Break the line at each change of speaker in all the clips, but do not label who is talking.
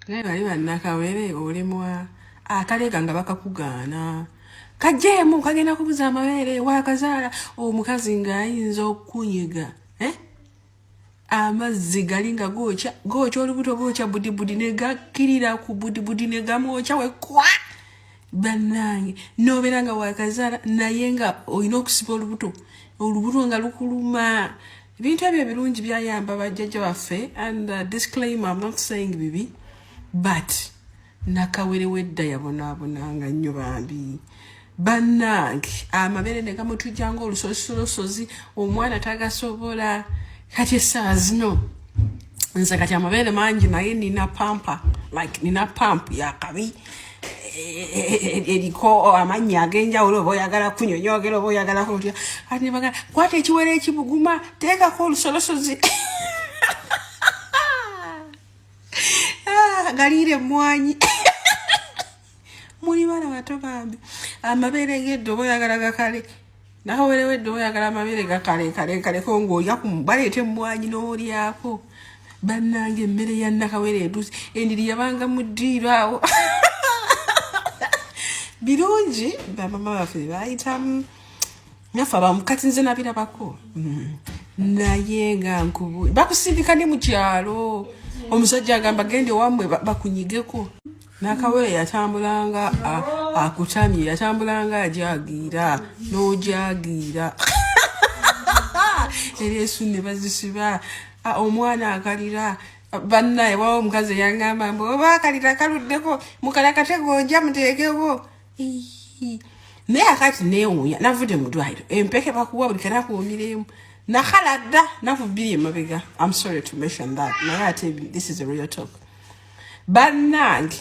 naye bali bannakawere olemwa akalega nga bakakugaana kajeemu kagenda kubuza amabeere wakazaala omukazi ng'ayinza okukunyiga eh? amazzi gali nga gookya gookya olubuto gookya budibudi negakkirira ku budibudi negamwokya wekwa bannange nobeera nga wakazaala naye nga olina okusiba olubuto olubuto nga lukuluma ebintu ebyo ebirungi byayamba bajjajja baffe and uh, disclaimer I'm not saying bibi but nakawere wedda yabonaabonanga nnyo bambi bannange amabere ne gamutujja nga olusosolosozi omwana tagasobola kati essaawa zino nze kati amabere mangi naye nina pampa like nina pampu yakabi yeah, eriko amannya ag'enjawulo oba oyagala kunyonyogera oba oyagala kutya ati bagala kwata ekiwera ekibuguma teekako olusolosozi ah, galiira emmwanyi muli bana bato bambi amabeere gedde oba oyagala gakale nawe werewedde oyagala amabere gakalenkalenkaleko ngaoya baleeta emmwanyi n'olyako bannanga emmere ya nakawere etuusi endiri yabanga mu ddiiro awo birungi bamama baffe bayitamu nafe abamu kati nze nabirabako mm. naye nga nkubu bakusindika ne mu kyalo omusajja agamba genda ewamwe bakunyigeko nakawere yatambulanga akutamye yatambulanga ajagiira n'ojagiira era esu ne bazisiba omwana akalira bannaye wawo omukazi eyangamba mbu oba akalira kaluddeko mukalakate gonja muteekewo naye akati newunya navudde mu ddwaliro empeke bakuwa buli kanakuwumiremu nakhala dda nakubbiri emabega am sorry to mention that naye ate this is a real talk bannange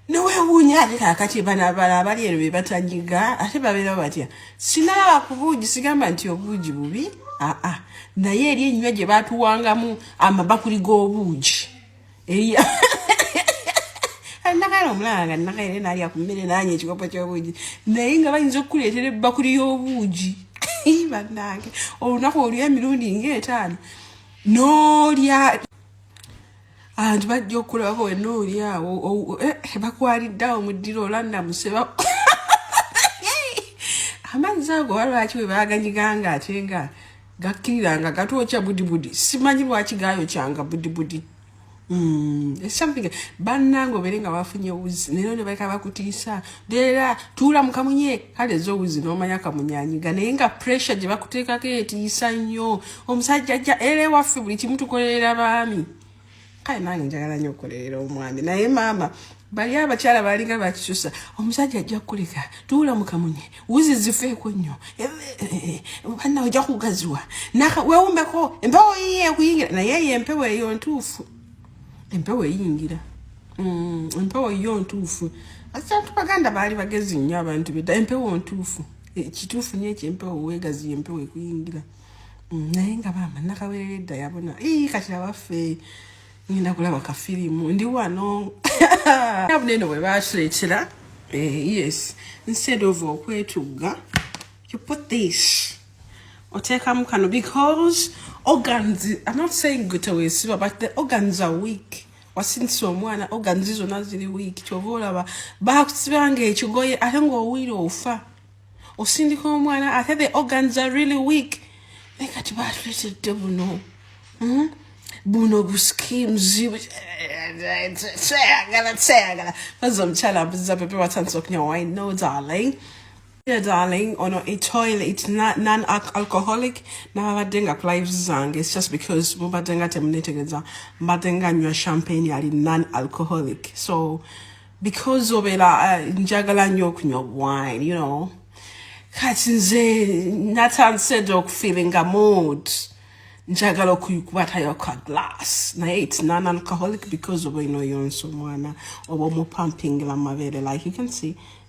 newewuunya ate kakati bana bala abali eno bebatanyiga ate babeera batya sinalaba ku buugi sigamba nti obuugi bubi aa naye eri enywa gye batuwangamu amabakuli g'obuugi eya nakaera omulala nga nakaera nalya ku mmere nanya ekikopo ky'obuugi naye nga bayinza okukuleetera ebbakuli y'obuugi bannange olunaku olw'emirundi ng'etaano n'olya abantu bajja okulaba wena oli awo eh, bakwalidde awo muddira olanamuse amazzi ago oba lwaki bwe baganyiganga ate nga gakkirira nga gatwokya budibudi simanyi lwaki gayokyanga budibudi hmm, banange obere nga bafunye wuzi nero nebaleka bakutiisa dera tuula mukamunye kale zowuzi nomanya kamunyanyiga naye nga pressure gye bakuteekako etiisa nnyo omusajja ajja era ewaffe buli kimu tukolerera baami kale nange njagala nyo okukolerera omwami naye maama bali abakyala balinga bakisusa omusajja ajja kukuleka tuula mukamunye wuzi zifeeko nnyo eh, eh, eh, banna ojja kugaziwa wewumbeko empewo yiye ekuyingira naye eyo empewo eyo ntuufu empewo eyingira mm, empewo yo ntuufu asantu baganda baali bagezi nnyo abantu beda empewo ntuufu e, kituufu nyo ekyo empewo wegazi empewo ekuyingira mm, naye nga bamba nakawerera edda yabona ii katira baffe ngenda kulaba kafirimu ndi wano abuneno bwe batuleetera eh, yes instead of okwetugga you put this oteekamu kano because organs i'm not saying gutewesiba but the organs are weak wasindisa omwana organs zona ziri weak kyova olaba bakusibanga ekigoye ate ngaowuire ofa osindika omwana ate the organs are really weak naye kati batuletedde buno hmm? buno buskimzibu kyeyagala kyeyagala baza omukyala mbuziza pepe watandisa okunywa wine no darling Dear darling, ono a toilet non-alcoholic nababadde nga ku lives zange it's just because mubadde nga temunetegereza mbadde nga nywa champagne ali non-alcoholic so because obeera uh, njagala nnyo okunywa wine you know kati nze natandise dda okufeelinga mood njagala okuyikubatayo ka glass naye it's non alcoholic because oba ino yonsa omwana oba omupampingila mabeere like you can see